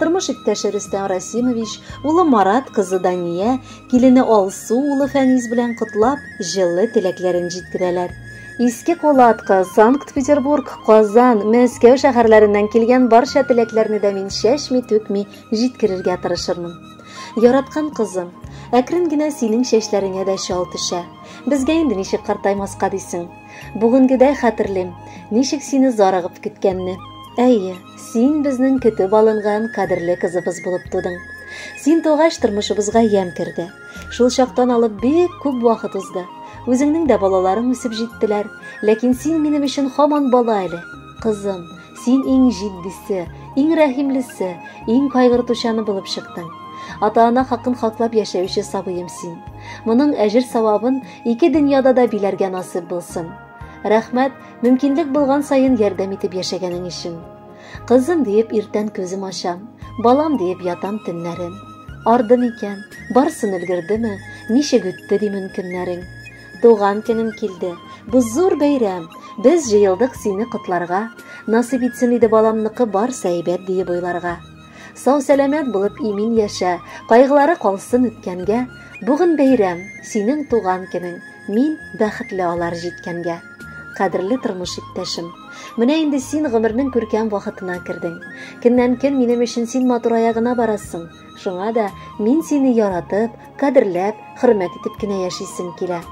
Тормыш иптәше Рөстәм Расимович, улы Марат, кызы Дания, килене Алсу, улы Фәнис белән котлап, җылы теләкләрен җиткерәләр. Иске Кулатка, Санкт-Петербург, Казан, Мәскәү шәһәрләреннән килгән барча теләкләрне дә мин чәчми-түкми җиткерергә тырышырмын. Яраткан кызым, әкрен генә синең чәчләреңә дә чал төшә. Безгә инде ничек картаймаска дисең. Бүгенгедәй хәтерлим, ничек сине зарыгып көткәнне. Әйе, Син безнең көтеп алынган кадерле кызыбыз булып тудың. Син тугач тормышыбызга ямь керде. Шул чактан алып бик күп вакыт узды. Үзеңнең дә балаларың үсеп җиттеләр. Ләкин син минем өчен хаман бала әле. Кызым, син иң җитдисе, иң рәхимлесе, иң кайгыртучаны булып чыктың. Ата-ана хакын хаклап яшәүче сабыем син. Моның әҗер-савабын ике дөньяда да биләргә насыйп булсын. Рәхмәт, мөмкинлек булган саен ярдәм итеп яшәгәнең өчен. Кызым диеп иртән күзем ачам, балам диеп ятам төннәрен. Арды микән, барсын өлгердеме, ничек үтте ди мөмкиннәрең. Туган көнем килде, бу зур бәйрәм, без җыелдык сине котларга. Насыйп итсен иде баламныкы барса әйбәт диеп уйларга. Сау-сәламәт булып имин яшә, кайгылары калсын үткәнгә. Бүген бәйрәм, синең туган көнең, мин бәхетле алар җиткәнгә. Кадерле тормыш иптәшем, менә инде син гомернең күркәм вакытына кердең. Көннән-көн минем өчен син матурая гына барасың. Шуңа да мин сине яратып, кадерләп, хөрмәт итеп кенә яшисем килә.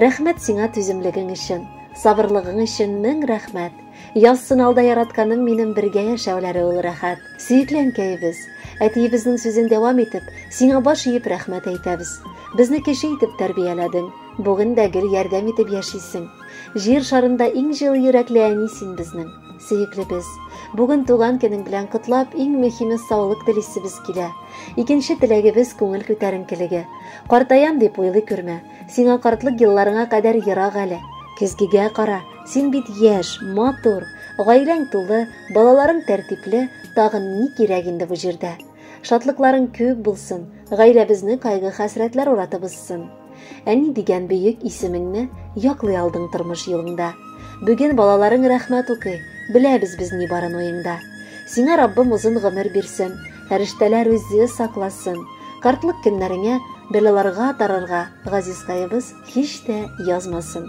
Рәхмәт сиңа түземлегең өчен, сабырлыгың өчен мең рәхмәт. Яз сыналда яратканым минем бергә яшәүләре ул рәхәт. Сөекле әнкәебез. Әтиебезнең сүзен дәвам итеп, сиңа баш иеп рәхмәт әйтәбез. Безне кеше итеп тәрбияләдең. Бүген дә гел ярдәм итеп яшисең. Җир шарында иң җылы йөрәкле әни син безнең. Сөеклебез. Бүген туган көнең белән котлап, иң мөһиме саулык телисебез килә. Икенче теләгебез күңел күтәренкелеге. Картаям дип уйлый күрмә. Сиңа картлык елларыңа кадәр ерак әле. Көзгегә кара, син бит яшь, матур, гаиләң тулы, балаларың тәртипле, тагын ни кирәк инде бу җирдә? Шатлыкларың күп булсын, гаиләбезне кайгы-хәсрәтләр уратып узсын. Әни дигән бөек исемеңне яклый алдың тормыш юлыңда. Бүген балаларың рәхмәт укый, беләбез без ни барын уеңда. Сиңа Раббым озын гомер бирсен, Фәрештәләр үзе сакласын. Картлык көннәреңә бәлаларга тарырга газизкаебыз һич тә язмасын.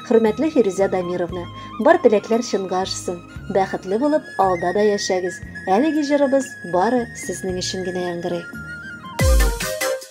Хөрмәтле Фирүзә Дамировна, бар теләкләр чынга ашсын. Бәхетле булып, алда да яшәгез. Әлеге җырыбыз бары сезнең өчен генә яңгырый.